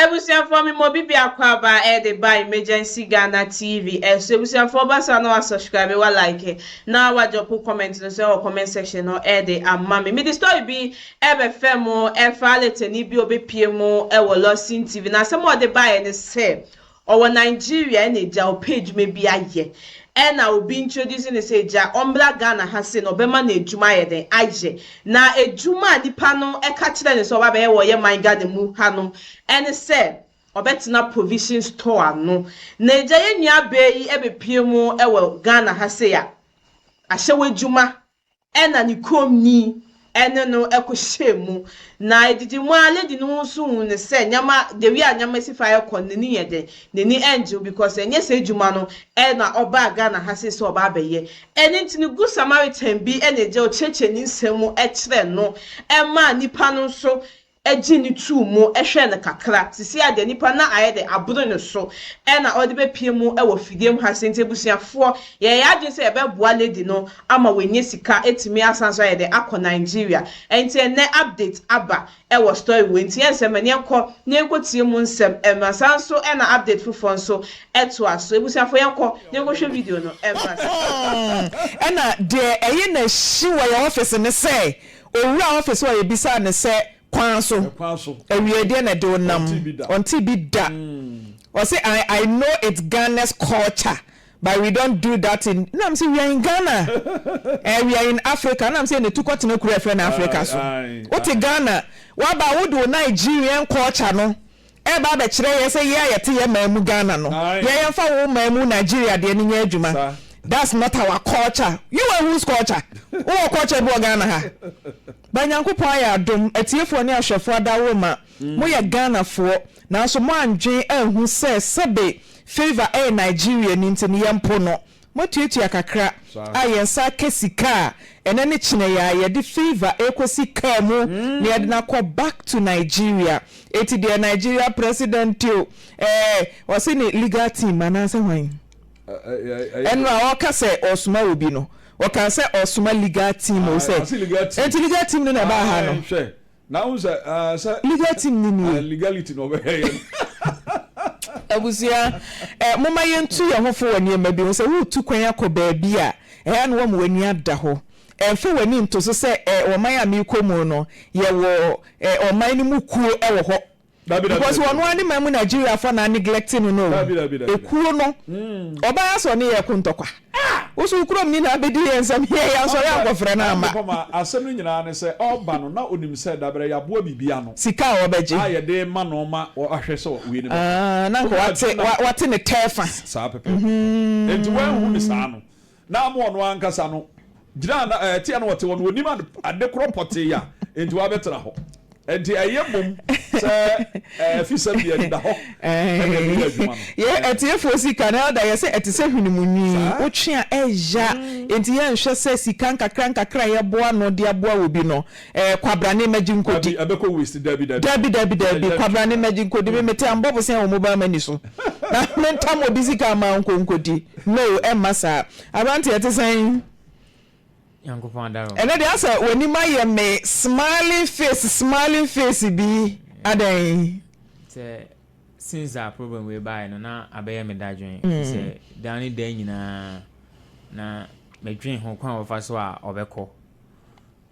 Ebusuafoɔ me ma obi biako aba a ɛde ba Emergency Ghana TV so ebusuafoɔ basa na wa subscribe wa like na wa droppo comment no nso ɛwɔ comment section no ɛde ama me mede story bi ɛbɛ fɛ mo ɛfa aletani bi ɔbɛ pie mo ɛwɔ Lawson TV na asɛm a ɔde baeɛ ne sɛ Ɔwɔ Nigeria ɛna egya ɔpɛ edwuma bi ayɛ ɛna obi introduce no sɛ egya ɔmbra Ghana ha sei na ɔbɛma no edwuma ayɛ dɛn ayɛ na edwuma a nipa no ɛka kyerɛ no sɛ ɔba abɛyɛ wɔ yɛ man Ghana mu ha no ɛne sɛ ɔbɛtena provision store ano na egya yɛ nua baa yi ɛbɛpue mu ɛwɔ Ghana ha sei a ahyɛ wo edwuma Ɛnna ne kuromni ne no kɔhyɛɛ mu, na edidi mu ara lady no nso huu no sɛ nneɛma, the way a nneɛma si fa rekɔ no, n'ani yɛ dɛn, n'ani nnye ho because ɛnyɛ saa adwuma no na ɔbaa Ghana ha sei sɛ ɔba abɛyɛ. Ɛno nti no, Good Samaritan bi na ɛgyaw kyerɛkyerɛni nsɛm mu kyerɛ no maa nnipa no nso gye no too mu hwɛɛ no kakra. Sesei a deɛ nipa na ayɛ dɛ aboro ne so na ɔde bɛpie mu wɔ fidie mu ha sei nti abusuafoɔ yɛyɛ yɛn adwene sɛ yɛbɛboa lady no ama wanya sika atumi asan nso ayɛ dɛ akɔ Nigeria nti ɛnnɛ update aba wɔ story wei nti yɛnsɛ ma yɛnkɔ na yɛnkɔ tie mu nsɛm mmra saa nso na update foforɔ nso toa so abusuafoɔ yɛnkɔ na yɛnkɔ hwɛ video no mmra saa. Ɛna deɛ ɛye na ɛhyi wɔ yɛn office ne sɛ Owura office hɔ yebisaa no sɛ kwan so, awiei deɛ na ɛde wo nam? Ɔntee bi da. Ɔse I I know it's Ghana's culture but we don't do that in na mese we are in Ghana eh we are in Africa na mese na tu kɔtena kuro a yɛfrɛ no Africa so wote Ghana woaba a wode wo Nigerian culture no Ɛreba abɛkyerɛ yɛn sɛ yɛn a yɛte yɛn man mu Ghana no yɛ yɛmfa wo man mu Nigeria deɛ no nyɛ adwuma that's not our culture you are whose culture? Wowɔ culture bi wɔ Ghana ha? But Nyankopɔn ayɛ adom atiefoɔ ne ahwɛfoɔ adaworoma mo yɛ Ghanafoɔ nanso moandwen anhu sɛ sɛbe Favour ɛyɛ Nigeriani nti no yɛmpo no Moatuatua kakra a yɛn nsa aka sika a ɛnɛ ne kyenɛeɛ a yɛde Favour rekɔsi car mu na yɛde no akɔ back to Nigeria. Enti deɛ Nigeria President o, ɛɛ ɔse ne legal team anaasɛ hwan? Ɛno a ɔreka sɛ ɔresoma obi no, ɔkaa sɛ ɔresoma legal team o sɛ, enti legal team no na ɛbaa ha no? Na wohu sɛ ɛɛ sɛ. Legal team no nie. Legality na ɔbɛhwɛ yɛ no. Abusua, ɛɛ momma yɛntu yɛn ho fo wɔ nneɛma bi ho. Sɛ woretu kwan akɔ baabi a, ɛɛ ano wɔn w'ani ada hɔ. Ɛnfa w'ani nto so sɛ ɛɛ ɔman a merekɔ mu no, yɛwɔ ɛɛ ɔman no mu kuo wɔ hɔ. because ɔno ara ne man mu Nigeria foɔ na aneglect no no o, ekuo no ɔbaa asɛ ɔne yɛn ko ntɔkwa, wo nso wo kurom ni na abɛdi yɛn nsam heɛ yɛansɔre ankɔfrɛ no amma. Anipama, asɛm no nyinaa ne sɛ ɔreba no na ɔnim sɛ dabrɛ yɛaboa biribi ano Sika a ɔbɛgye. a yɛde rema no ma wahwɛ sɛ wei no bɛfa. Ah, na anka Wode wate, adwene nam wate ne tɛɛfa. saa pɛpɛɛpɛ, enti woanhu no saa no na ama ɔno ankasa no gyina na ɛɛ teɛ no ɔte hɔ no ɔnim ade ade korɔ pɔtee a nti wabɛtena hɔ nti ɛyɛ mmom sɛ ɛɛ fisɛm deɛ ɛdeda hɔ ɛna ɛbɛyɛ adwuma no. Yɛ atiefoɔ sika no Elder yɛsɛ ɛte sɛ hwene mu nwi Saa. wotwe a ɛya nti yɛnhwɛ sɛ sika nkakra nkakra a yɛboa no de aboa obi no Eh kwabrane magye nkodi. Dabi ɛbɛkɔ waste dabi dabi. Dabi dabi dabi kwabrane magye nkodi me mete ambɔfo sɛn wɔ mobile money so na me ntam obi sika ama ɔnkɔ nkodi no ɛmma saa abranteɛ te sɛn. Nyankopɔn adara wo. Ɛnɛ deɛ asɛ w'anim ayɛ me smiling face smiling face bi adɛn. Sɛ since a problem wei baeɛ no na abɛyɛ me dadwen ɛfiri sɛ da ne da nyinaa na medwen ho kwan a ɔbɛfa so a ɔbɛkɔ.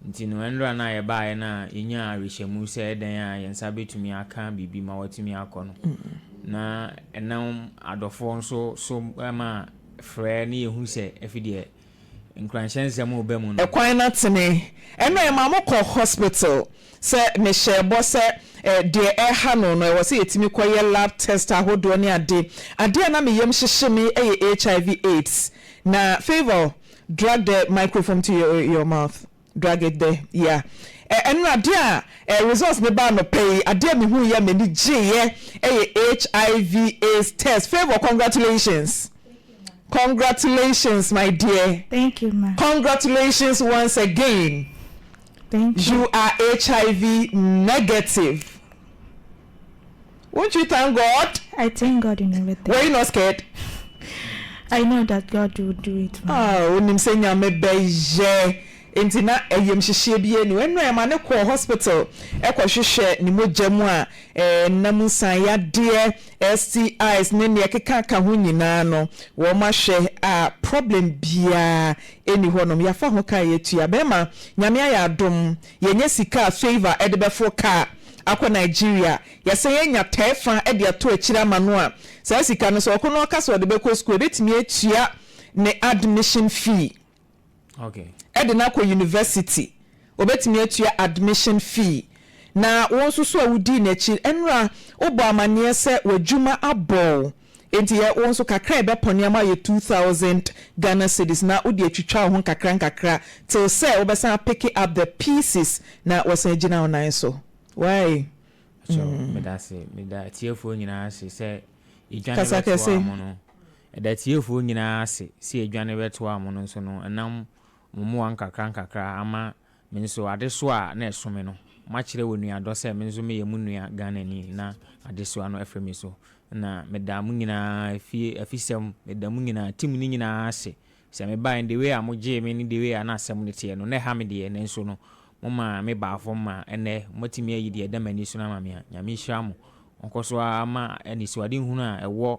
Nti no, ɛnora no a yɛbaaeɛ no a yɛnyaa awerehyɛmu sɛ ɛdɛn a yɛn nsa bɛtumi aka biribi ma wɔatumi akɔ no, na ɛnam adɔfoɔ nso so ma frɛ ne yɛhu sɛ ɛfi deɛ nkuranhyɛ nsɛm reba mu no. Ɛkwan no atene. Ɛnora yɛmaa mo kɔ hospital sɛ mehyɛɛ bɔ sɛ deɛ ɛreha no no ɛwɔ sɛ yɛtumi kɔyɛ lab test ahodoɔ ne ade. Adeɛ a na me yam hyehye me yɛ HIV, AIDS. Na Favour, Drag the microphome to your your mouth drag it there yeah ɛnora adeɛ a ɛɛ results no baa anɔpa yi adeɛ a mehuu yɛ a m'ani gyeeɛ ɛyɛ hiv aids test favour congratulations congratulations my dear Thank you ma. congratulations once again Thank you. you are hiv negative. Won't you thank God? I thank God in everything. Were you not scared? I know that God will do it for me. Ah, wonim sɛ Nyame bɛyɛ. Enti na ayamhyehyeɛ biara nni hɔ. Ɛno na ɛma no kɔɔ hospital kɔhwehwɛ ne mogya mu a ɛnam nsaneyadeɛ, STIs, ne nea ɛkeka ka ho nyinaa no, wɔahwɛ a problem biara nni hɔnom. Yɛafa ho ka a yɛatua. Bɛrima, Nyame ayɛ adom Yɛanya sika a Favour de bɛforo kaa akɔ Nigeria. Yɛsan anya tɛɛ fa de ato akyire ama no a, saa sika no, sɛ ɔko na ɔka sɛ ɔde bɛkɔ sukuu a, ɛbɛtumi atua ne admission fee de no akɔ University. Ɔbɛtumi atua admission fee. Na wo nso so a wodii n'akyi nnora, wobɔ amanneɛ sɛ w'adwuma abɔ wo. Enti yɛ wo nso kakra a ɛbɛpɔ nneɛma ayɛ two thousand Ghana cedis na wode atwitwa wo ho nkakra nkakra till sɛ wobɛsan a picke up the pieces na woasan agyina wo nan so. Wai? Pacho, meda ase. Meda atiefoɔ nyinaa ase sɛ yɛdwane Kasa bɛtoaa kɛse. mo no. Yɛda atiefoɔ nyinaa ase sɛ yɛdwane bɛtoaa mo no nso no, ɛnam mo mmoa nkakra nkakra ama Me nso, adesoa a na ɛso me no, makyerɛ wɔ nuadɔ sɛ me nso meyɛ mo nua Ghanani na adesoa no afiri me so. Ɛnna meda mo nyinaa fie afisɛm, meda mo nyinaa tim no nyinaa ase. Sɛ mebaeɛ no, the way a mogyee me ne the way a na asɛm no teɛ no, na ɛha me deɛ, nanso no, momaa me baa fam ma ɛnnɛ moatumi ayi deɛ ɛda m'ani so no ama me a, Nyame nhyira mo. Ɔnkɔ so ara ma anisoadehunu a ɛwɔ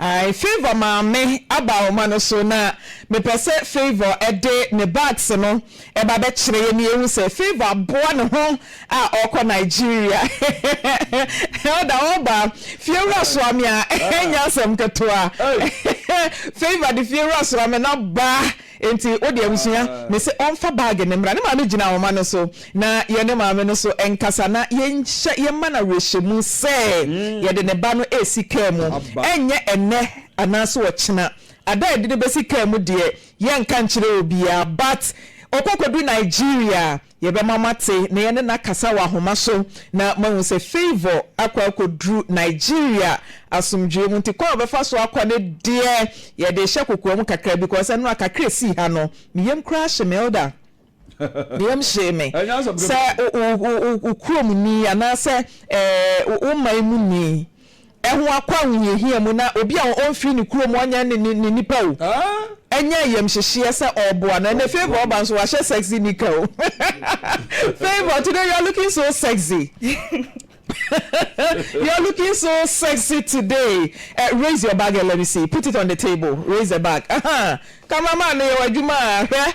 I, Favour maame aba ahoma no so na mepɛ sɛ Favour de ne bags no ba bɛkyerɛ yɛn na yɛhu sɛ Favour aboa ne ho a ɔrekɔ Nigeria. Elder, Wɔba fiewura soa me a, ɛnyɛ asɛm ketewa. Favour de fiewura soa me na ba. Enti wo de abusua no se ɔmfa bag no mmra. Ne maame gyinaa ɔma no so na yɛne maame no so nkasa na yɛnhyɛ yɛmma no awerɛhyɛmu sɛ yɛde ne ba no resi kaa mu. Ɛnyɛ ɛnnɛ anaase ɔkyena. Ada a yɛde no bɛsi kaa mu deɛ yɛnka nkyerɛ obiara but ɔkɔ kɔdu Nigeria Yɛbɛma moate na yɛne no akasa wɔ ahoma so na moahu sɛ Favour akɔ akɔduru Nigeria asomdwoeɛ mu nti kwan a ɔbɛfa so akɔ no deɛ yɛde rehyɛ kokoam kakra bi because nnora kakra a ɛsii ha no me yam koraa hye me Elder me yam hyee me sɛ wo kuromni anaasɛ wo man muni ho akɔ ahohiahia mu na obi a ɔmfii ne kurom ɔnyɛ ne ne nnipa o anya ayamhyehyeɛ sɛ ɔreboa no. Ɛnɛ Favour ɔba nso wahyɛ sexy nika o Favour today you are looking so sexy you are looking so sexy today eh, raise your bag and let me see put it on the table raise the bag ahaa cameraman no yɛ w'adwuma a hwɛ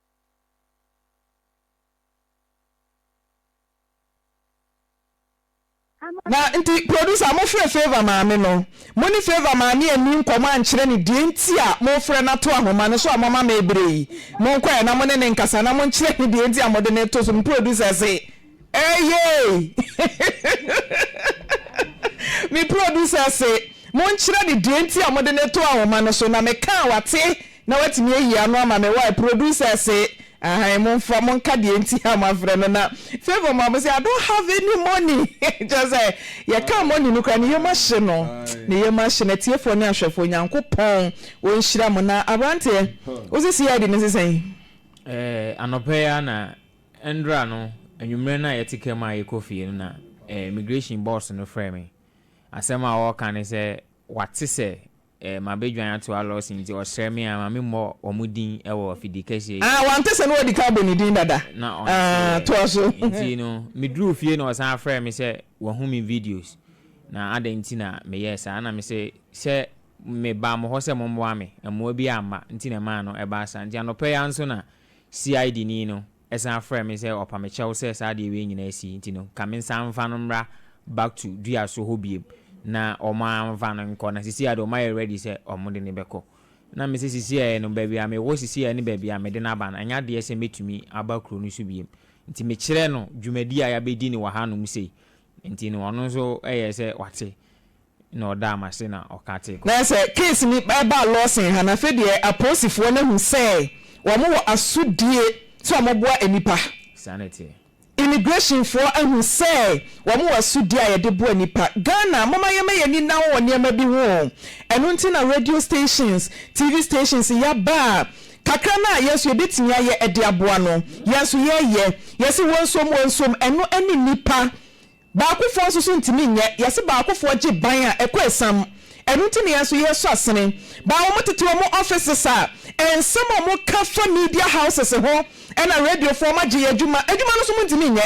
Na nti producer mo frɛ Favour maame no mo ne Favour maame anni nkɔmmɔ ankyerɛ no deɛ nti a mo frɛ no ato ahoma no so a moama me ɛberɛ yi monkɔ ɛ na mo ne no nkasa na monkyerɛ no deɛ nti a mode no reto so me producer se Eeieii me producer se monkyerɛ ne deɛ nti a mode no to ahoma no so na me ka a wate na watumi ayi ano ama me wai producer se ahan monfa monka deɛ nti a moafrɛ no na Favour ma mo se I don't have any money kyerɛ sɛ yɛka money no koraa ne yam ahye no ne yam ahye no atiefoɔ ne ahwɛfoɔ Nyankopɔn ɔnhyira mo na abranteɛ wo se CID no se sɛn? Ɛɛ anɔpa yi ara na Ndra no anwumerɛ no a yɛte ka mu a yɛkɔ fie no na immigration boss no frɛɛ me. Asɛm a ɔreka ne sɛ wate sɛ mabɛdwan atoa Lawson nti ɔsrɛ me a ma me mmɔ wɔn din wɔ afidie kɛseɛ yi. Ah wante sɛ na wadi kan abɔ ne din dada. Na ɔnte Ah toa so. yɛ. Nti no meduruu fie na ɔsan frɛɛ me sɛ wahu me videos na adɛn nti na meyɛɛ saa na mese sɛ mebaa mo hɔ sɛ mommoa me, mmoa bi amma nti na ɛmaa no ɛbaa saa. Nti anɔpa yi ara nso na CID ni no san frɛɛ me sɛ ɔpa me kyɛw sɛ saa adeɛ wei nyinaa asi nti no, ka mensan mfa no mmra back to Duaso hɔ biom. Na wɔamfa no nkɔ. Na seesei ara deɛ wɔayɛ ready sɛ wɔde no bɛkɔ. Na me sɛ seesei ara no, baabi a mewɔ seesei ara ne baabi a mede no aba no, ɛnyɛ adeɛ sɛ mɛtumi aba kuro no so biom. Nti mekyerɛɛ no dwumadie a yɛabɛdi no wɔ hanom sei. Nti no ɔno nso yɛɛ sɛ wate. na ɔdaa m'ase na ɔka tse. Na sɛ case no baa lawson ha no afei deɛ apolisifoɔ no ahu sɛ wɔn wɔ asodie sɛ wɔn boa nnipa. Saa na ɛteɛ. Immigration foɔ ahu sɛ wɔn wɔ asodie a yɛde boa nnipa. Ghana momma yɛmma yɛn ani nna hɔ wɔ nneɛma bi ho o. Ɛno nti na radio stations, TV stations yɛaba a kakra no a yɛn nso yɛbɛtumi ayɛ de aboa no yɛn nso yɛyɛ. Yɛse wɔn nsuom wɔn nsuom ɛno ɛne nnipa. Baakofoɔ nso so ntumi nyɛ, yɛse baakofoɔ gye ban a ɛkɔ asiam, ɛno nti na yɛn nso yɛsɔ asene. Baa a wɔn tete wɔn offices a, nsɛm a wɔn ka fa media houses ho ɛna radiofoɔ wɔn agye yɛn adwuma, adwuma no nso mo ntumi nyɛ,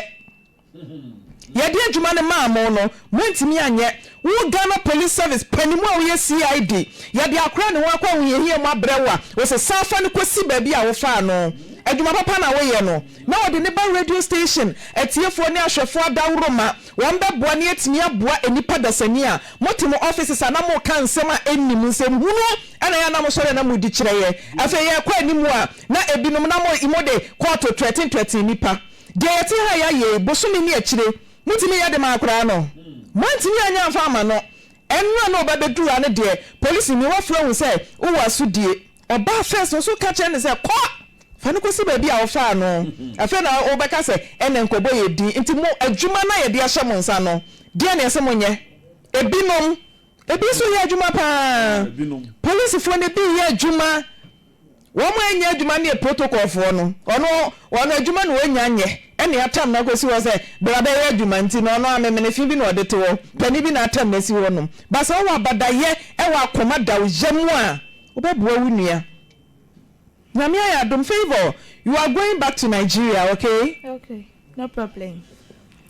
yɛde adwuma no maa mo no mo ntumi anyɛ, Wo Ghana Police Service panimu a woyɛ CID, yɛde akora ne ho akɔ ahohiahia mu abrɛ wo a, wose san fa no kɔsi baabi a wofaa no. Adwuma papa na woyɛ no. Na wɔde no ba radio station atiefoɔ ne ahwɛfoɔ adaworo ma wɔn bɛboa na yɛatumi aboa nnipa dasani a mote mo offices a na moka nsɛm a ɛnni mu, nsɛm hunu na ɛyɛ a na mosɔre a na modi kyerɛeɛ. Afei yɛrekɔ anim a na ebinom na mode kɔɔto ntwɛte ntwɛte nnipa. Deɛ yɛte ha a yɛayɛ yi, bosome ne akyire Motumi yɛ de ma akwadaa no. Moantumi anyɛ amfa ama no. Ɛnoa na ɔba bɛduru ha no deɛ, polisini wafrɛ wo sɛ wowɔ asodie. Ɔbaa first no, so woka kyerɛ no sɛ kɔ? Fa no kɔsi baabi a wofaa no. Afei na wobɛka sɛ ɛnna nkɔbɔ yɛ din. Nti mo adwuma no a yɛde ahyɛ mo nsa no, deɛn na ɛsɛ monyɛ? Ebinom. Ebi nso yɛ adwuma pa ara. Polisifoɔ no bi yɛ adwuma. Wɔn a ɛnyɛ adwuma no yɛ protocol foɔ no, ɔno wɔn adwuma na ɔnya nyɛ, ɛna atam no akɔsi hɔ sɛ bra bɛyɛ adwuma nti no ɔno amemenefe bi na ɔde te hɔ, panin bi na atam no asi hɔ nom. But sɛ wowɔ abadayɛ ɛwɔ akoma da wo yam a, wobɛboa wo nua. Nyame ayɛ adom, Favour you are going back to Nigeria okay? Okay, no problem.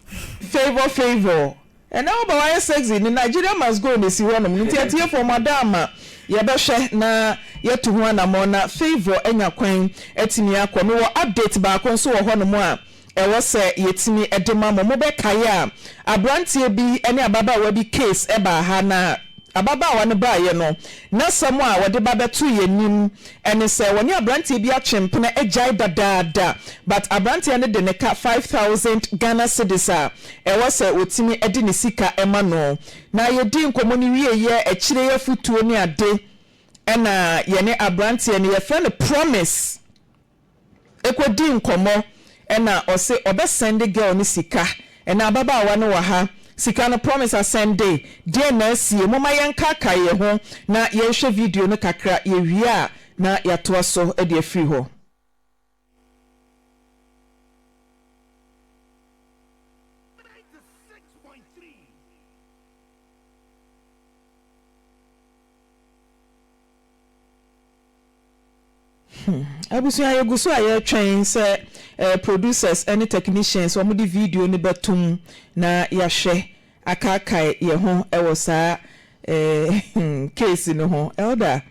Favour Favour Ɛnɛ woba wayɛ sexy ne Nigeria must go no ɛsi hɔ nom nti atiefoɔ mo ada ama yɛbɛhwɛ na yɛtu ho anamɔn na Favour anya kwan atumi akɔ me wɔ update baako nso wɔ hɔ nom a ɛwɔ sɛ yɛtumi de ma mo mobɛ kae a abranteɛ bi ne ababaawa bi case ɛbaa ha na ababaawa no baeɛ no nasɛm a wɔde ba bɛto yɛn anim ɛne sɛ wɔne abranteɛ bi atwe mpena agyae dadaada but abranteɛ no de ne ka five thousand Ghana cedis a ɛwɔ sɛ ɔtumi de ne sika ma no. Na yɛdii nkɔmmɔ no wieeɛ a, akyire yi afotuo ne ade na yɛne aberanteɛ no, yɛfrɛ no Promise, kɔdii nkɔmmɔ na ɔse ɔbɛsɛnde girl no sika. Ɛnna ababaawa no wɔ ha, sika no Promise asɛnde. Deɛn na asie? Momma yɛnkaakae yɛn ho na yɛnhwɛ video no kakra, yɛwie a na yɛatoa so de afiri hɔ. Abusua yɛgu so a yɛtwɛn sɛ ɛɛ producers ɛne technicians wɔn de video no bɛtom na yahwɛ. akaakae yɛn ho wɔ saa case no ho. Elder,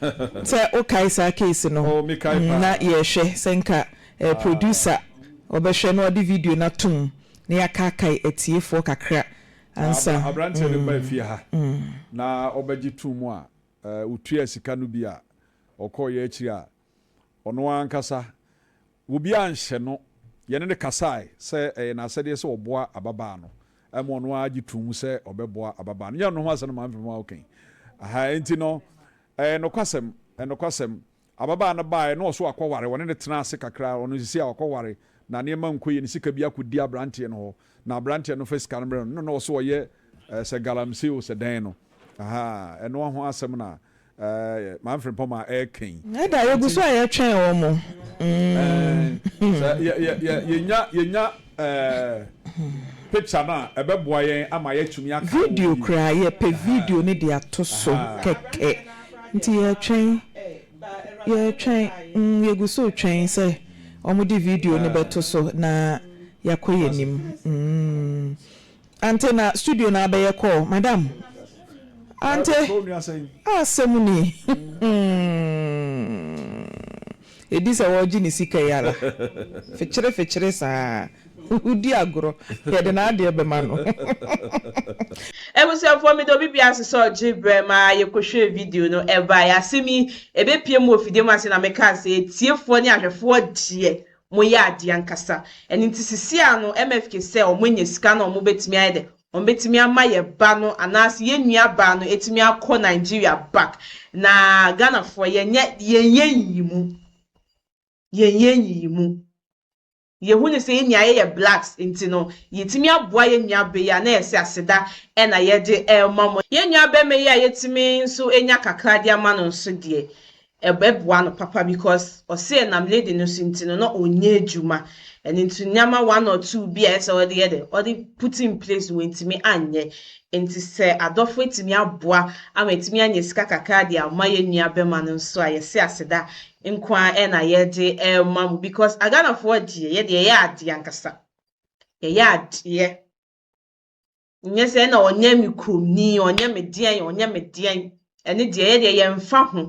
sɛ wokae saa case no na yɛrehwɛ, sɛ nka producer ɔbɛhwɛ na ɔde video no ato mu na yɛakaakae atiefoɔ kakra ansa. Na aberanteɛ no baa fie ha na ɔbɛgye too mu a, ɔtuaa sika no bi a, ɔkɔeɛ akyiri a, ɔno ankasa Obiara anhyɛ no. Yɛne no kasae sɛ ɛyɛ n'asɛdeɛ sɛ ɔboa ababaa no. Ɛma ɔno ara gye too mu sɛ ɔbɛboa ababaa no. Nyɛ ɔno ho asɛm na Maame Mfefomaa reka yi. Ahaa, enti no, ɛyɛ nokwasɛm, ɛyɛ nokwasɛm. Ababaa no baeɛ, na ɔso akɔware. Wɔne no tenaa ase kakra. Ɔno seesei a wakɔware, na nneɛma nkɔ yie. Ne sika bi akɔdi aberanteɛ no hɔ, na aberanteɛ no fa sika no brɛ no, na na ɔso ɔyɛ sɛ galamsey o, sɛ dɛn no. Ahaa, ɛno ho asɛm na. Ɛɛ maa mfrempɔn maa ɛɛka yi. Ɛda yɛ gu so a yɛ twɛn wɔn mo. Ɛɛ sɛ yɛ yɛ yɛ yɛ nya yɛ nya ɛɛ picture no a ɛbɛ boa yɛn ama yɛ tumi aka wɔ. Video koraa yɛ pɛ video no de ato so kɛkɛ nti yɛ twɛn yɛ twɛn mm yɛ gu so twɛn sɛ wɔn de video no bɛ to so na yɛ akɔ yɛ nim mm. Ante na studio na abɛyɛ call madam ante asɛm ni hmm edi sɛ wɔgye ne sika yi ara fikyere fikyere saa wodi agorɔ yɛde n'adeɛ bɛma no. Abusuafoɔ mede obi biara sosɔɔ gye berɛ ma yɛkɔhwɛɛ video no ɛbaeɛ asɛm yi ɛbɛpue mu wɔ fidie mu ase na mekaa sɛ atiefoɔ ne ahwɛfoɔ deɛ wɔyɛ adeɛ ankasa. Ɛno nti sisiaa no MFK sɛ wɔn anya sika na wɔn bɛtumi ayɛ dɛ? Wɔn bɛtumi ama yɛ ba no anaase yɛ nua baa no atumi akɔ Nigeria back. Na Ghanafoɔ yɛ nyɛ yɛn yɛ nyiyimu. Yɛn yɛ nyiyimu. Yɛ hu no sɛ yɛ nua yɛ yɛ blacks nti no yɛ tumi aboa yɛ nua ba yi a na yɛ sɛ aseda ɛna yɛ de ɛma mo. Yɛ nua bɛma yi a yɛ tumi nso anya kakra de ama no nso deɛ Ɛbɛboa no papa because ɔsɛ nam lady no so nti no na ɔnyɛ adwuma ɛno nti nneɛma one or two bi a ɛsɛ ɔde yɛ dɛ ɔde put in place wɔntumi anyɛ nti sɛ adɔfo atumi aboa ama atumi anya sika kakra de ama yɛn nua bɛma no nso a yɛse aseda nko ara ɛna yɛde ɛma mu because Ghanafoɔ deɛ yɛde yɛyɛ adeɛ ankasa yɛyɛ adeɛ. nyɛ sɛ na ɔnyɛ me kuromni ɔnyɛ me deɛn ɔnyɛ me deɛn ɛne deɛ yɛ deɛ yɛmfa ho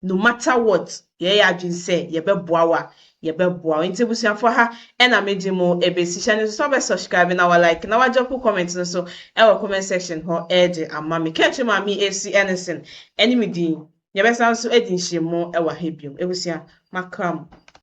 no matter what yɛyɛ adwene sɛ yɛbɛboa wo a yɛbɛboa wo nti abusuafoɔ ha ɛna mede mo ɛbɛsi hyɛ no nso sɛ wobɛ subscribe na wa like na wagyɔpo comment no so ɛwɔ comment section hɔ ɛde ama me kɛntwe ma me ɛsi ɛnesen ɛne me din yɛbɛsa nso ɛdi nhyɛ mu ɛwɔ ha biom abusua makra mo